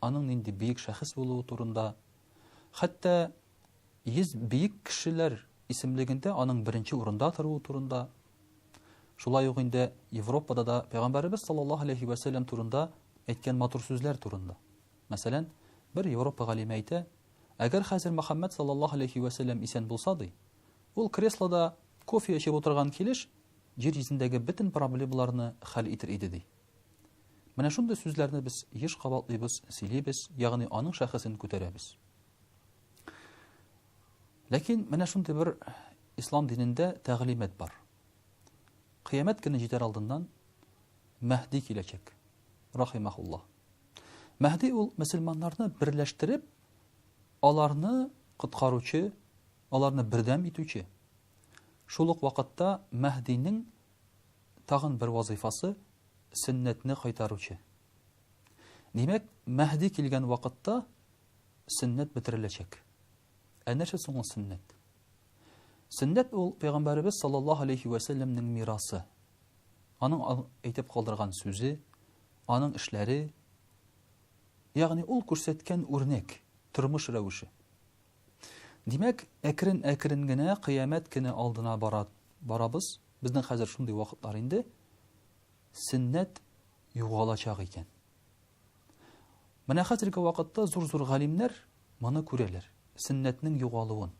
аның нинди биек шәхес булуы турында, хәтта 100 биек кешеләр исемлегендә аның беренче урында торуы турында, шулай ук инде Европада да пәйгамбәребез саллаллаһу алейһи вә сәлләм турында әйткән матур сүзләр турында. Мәсәлән, бер Европа галиме әйтә, әгәр хәзер Мөхәммәд саллаллаһу алейһи вә сәлләм исән булса, ди, ул креслода кофе эчеп утырган килеш җир йөзендәге бөтен проблемаларны хәл итер иде, ди. Менә шундый сүзләрне без еш кабатлыйбыз, сөйлибез, ягъни аның шәхесен күтәрәбез. Ләкин менә шундый бер ислам динендә тәгълимат бар. Кыямәт көне җитәр алдыннан Мәһди киләчәк. Рахимахулла. Мәһди ул мусульманнарны берләштереп, аларны коткаручы, аларны бердәм итүче. Шул ук вакытта Мәһдинең тагын бер вазыйфасы, сөннәтне кайтаручы. Димәк, Мәһди килгән вакытта сөннәт бетереләчәк. Ә нәрсә соң ул сөннәт? Сөннәт ул пәйгамбәребез саллаллаһу алейхи ва сәлләмнең мирасы. Аның әйтеп калдырган сүзе, аның эшләре, ягъни ул күрсәткән үрнәк, тормыш рәвеше. Димәк, әкрен-әкрен генә кыямәт көне алдына бара, барабыз. Безнең хәзер шундый вакытлар инде. Сөннәт югалачак икән. Менә хәзерге вакытта зур-зур галимнәр моны күрәләр, сөннәтнең югалуын.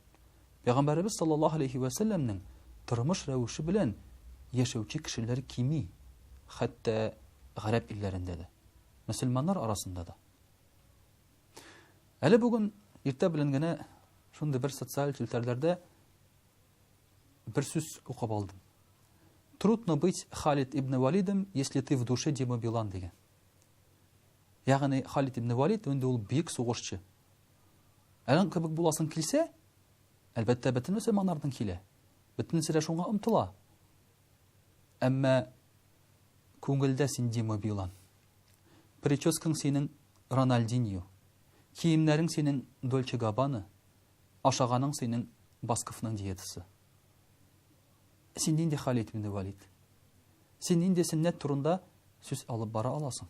Пәйгамбәребез саллаллаһу алейхи ва сәлләмнең тормыш рәвеше белән яшәүче кешеләр кими, хәтта гарәп илләрендә дә, мөселманнар арасында да. Әле бүген иртә белән генә шундый бер социаль челтәрләрдә бер сүз укып алдым. Трудно быть Халид ибн Валидом, если ты в душе Дима Билан дигән. Ягъни Халид ибн Валид инде ул бик сугышчы. Аның кебек буласын килсә, әлбәттә бөтен мөселманнардан килә. Бөтенесе дә шуңа омтыла. Әмма күңелдә син Дима Билан. Прическаң синең Рональдиньо, киемнәрең синең Дольче Габбана, ашаганың синең Басковның диетасы. Син нинди Халит бин Валид? Син нинди сөннәт турында сүз алып бара аласың?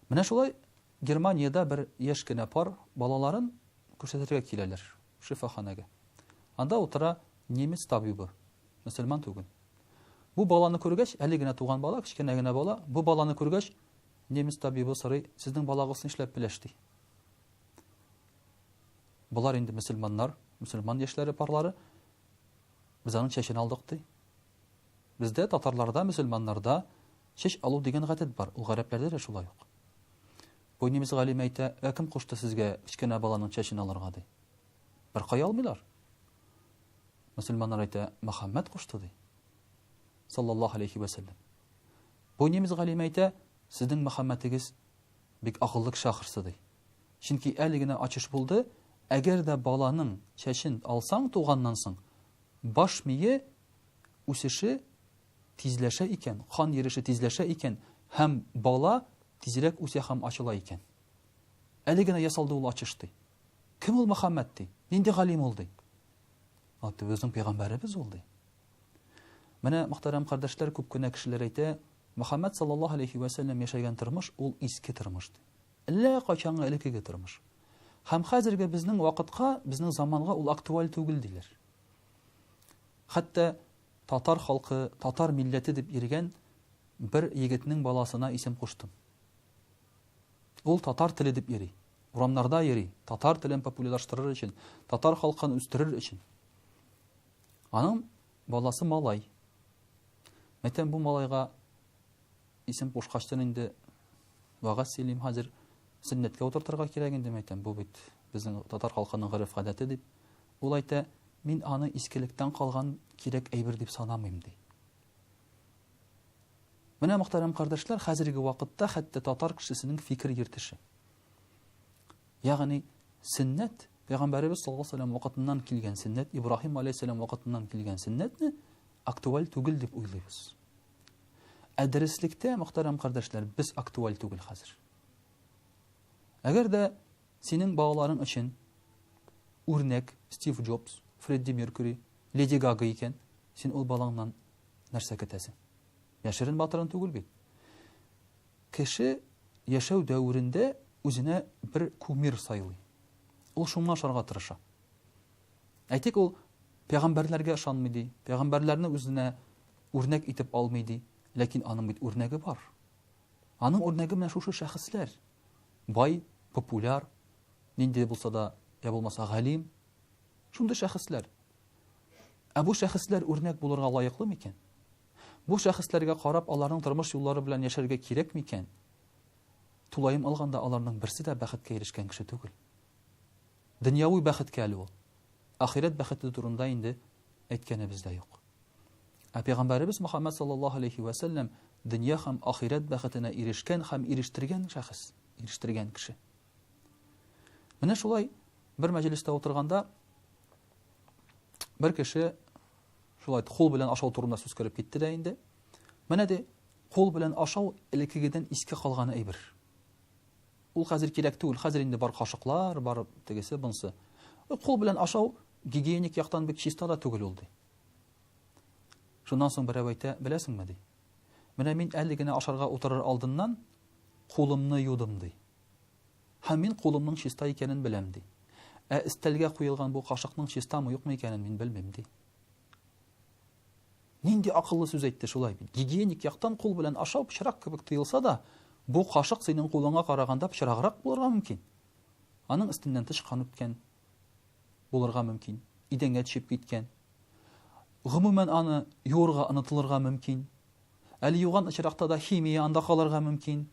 Менә шулай Германиядә бер яшь кенә пар балаларын күрсәтергә киләләр шифаханәгә. Анда утыра немец табибы. Мөселман түгел. Бу баланы күргәч, әле генә туган бала, кечкенә генә бала, бу баланы күргәч, немец табибы сорый, сезнең балагыз нишләп пеләш ди. Болар инде мөселманнар, мөселман яшьләре парлары. Без аның чәчен алдык ди. Бездә татарларда, мөселманнарда чәч алу дигән гадәт бар. Ул гарәпләрдә дә шулай ук. Бу немец галиме әйтә, ә кем кушты сезгә кечкенә баланың чәчен алырга ди. Бер кая алмыйлар. Мөселманнар әйтә, Мөхәммәд кушты, ди. Саллаллаһу алейхи вә сәлләм. Бу немец галиме әйтә, сезнең Мөхәммәтегез бик акыллы кеше ахрысы, ди. Чөнки әле генә ачыш булды, әгәр дә баланың чәчен алсаң туганнан соң, баш мие үсеше тизләшә икән, кан йөреше тизләшә икән һәм бала тизрәк үсә һәм ачыла икән. Әле генә ясалды ул ачыш, ди. Кем ул Мөхәммәд, ди. Нинди галим ул, ди. Ул ди, безнең пәйгамбәребез ул, ди. Менә, мөхтәрәм кардәшләр, күп кенә кешеләр әйтә, Мөхәммәд саллаллаһу алейһи вә сәлләм яшәгән тормыш ул иске тормыш, ди. Әллә кайчанга элеккеге тормыш. Һәм хәзерге безнең вакытка, безнең заманга ул актуаль түгел, диләр. Хәтта татар халкы, татар милләте дип йөргән бер егетнең баласына исем куштым. Ул татар теле дип йөри. Урамнарда йөри, татар телен популярлаштырыр өчен, татар халкын үстерер өчен. Аның баласы малай. Мәйтәм бу малайга исем кушкачтан инде вагаз сөйлим хәзер сөннәткә утыртырга кирәк инде мәйтәм бу бит безнең татар халкының гырыф гадәте дип ул әйтә мин аны искелектән калган кирәк әйбер дип санамыйм ди Менә, мөхтәрәм кардәшләр, хәзерге вакытта хәтта татар кешесенең фикер йөртеше. Ягъни, сөннәт, пәйгамбәребез саллаллаһу алейһи ва сәлләм вакытыннан килгән сөннәт, Ибраһим алейһиссәлам вакытыннан килгән сөннәтне актуаль түгел дип уйлыйбыз. Ә дөреслектә, мөхтәрәм кардәшләр, без актуаль түгел хәзер. Әгәр дә Синең балаларың өчен үрнәк Стив Джобс, Фредди Меркьюри, Леди Гага икән, син ул балаңнан нәрсә көтәсең? Яшерен-батырын түгел бит. Кеше яшәү дәверендә үзенә бер кумир сайлый. Ул шуңа ошарга тырыша. Әйтик, ул пәйгамбәрләргә ышанмый ди, пәйгамбәрләрне үзенә үрнәк итеп алмый ди, ләкин аның бит үрнәге бар. Аның үрнәге менә шушы шәхесләр, бай, популяр, нинди дә булса да, я булмаса галим, шундый шәхесләр. Ә бу шәхесләр үрнәк булырга лаеклы микән? Бу шәхесләргә карап, аларның тормыш юллары белән яшәргә кирәк микән? Тулаем алганда, аларның берсе дә бәхеткә ирешкән кеше түгел. Дөньяви бәхеткә әле ул. Ахирәт бәхете турында инде әйткәнебез дә юк. Ә пәйгамбәребез Мөхәммәд саллаллаһу алейһи вә сәлләм дөнья һәм ахирәт бәхетенә ирешкән һәм ирештергән шәхес, ирештергән кеше. Менә шулай бер мәҗлестә утырганда бер кеше шулай кул белән ашау турында сүз кереп китте дә инде. Менә ди, кул белән ашау элеккегедән искә калган әйбер. Ул хәзер кирәк түгел, хәзер инде бар кашыклар, бар тегесе, бунсы. Кул белән ашау гигиеник яктан бик чиста да түгел ул ди. Шуннан соң берәү әйтә, беләсеңме, ди, менә мин әле генә ашарга утырыр алдыннан кулымны юдым, ди. Һәм мин кулымның чиста икәнен беләм, ди. Ә өстәлгә куелган бу кашыкның чистамы, юкмы икәнен мин белмим, ди. Нинди акыллы сүз әйтте шулай бит. Гигиеник яктан кул белән ашау пычрак кебек тоелса да, бу кашык синең кулыңа караганда пычраграк булырга мөмкин. Аның өстеннән тычкан үткән, булырга мөмкин, идәнгә төшеп киткән. Гомумән аны юырга онытылырга мөмкин. Әле юган очракта да химия анда калырга мөмкин.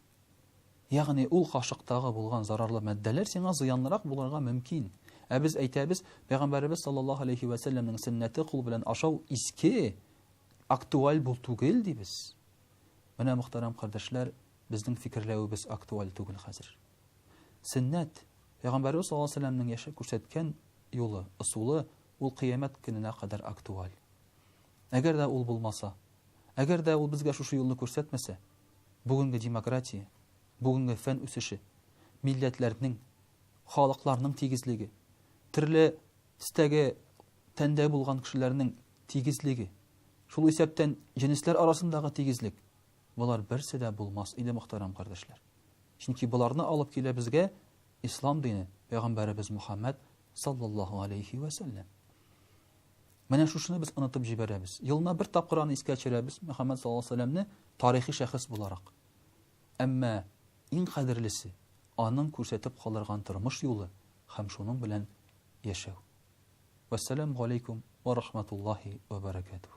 Ягъни ул кашыктагы булган зарарлы матдәләр сиңа зыянлырак булырга мөмкин. Ә без әйтәбез, Пәйгамбәребез саллаллаһу алейһи вә сәлләмнең сөннәте кул белән ашау иске, актуаль бу түгел дибез. Менә, мөхтәрәм кардәшләр, безнең фикерләвебез актуаль түгел хәзер. Сөннәт, Пәйгамбәребез саллаллаһу алейһи ва сәлләмнең яшәп күрсәткән юлы, ысулы, ул кыямәт көненә кадәр актуаль. Әгәр дә ул булмаса, әгәр дә ул безгә шушы юлны күрсәтмәсә, бүгенге демократия, бүгенге фән үсеше, милләтләрнең, халыкларның тигезлеге, төрле стәге тәндә булган кешеләрнең тигезлеге, шул исәптән җенесләр арасындагы тигезлек, Болар берсе дә булмас иде, мөхтәрәм кардәшләр. Чөнки боларны алып килә безгә Ислам дине, пәйгамбәребез Мухаммәд саллаллаһу алейхи вә сәлләм. Менә шушыны без онытып җибәрәбез. Елына бер тапкыр аны искә төшерәбез, Мөхәммәд саллаллаһу алейһи вәсәлләмне тарихи шәхес буларак. Әмма иң кадерлесе аның күрсәтеп калдырган тормыш юлы һәм шуның белән яшәү. Вассаламу алейкум ва рахматуллаһи ва баракатуһ.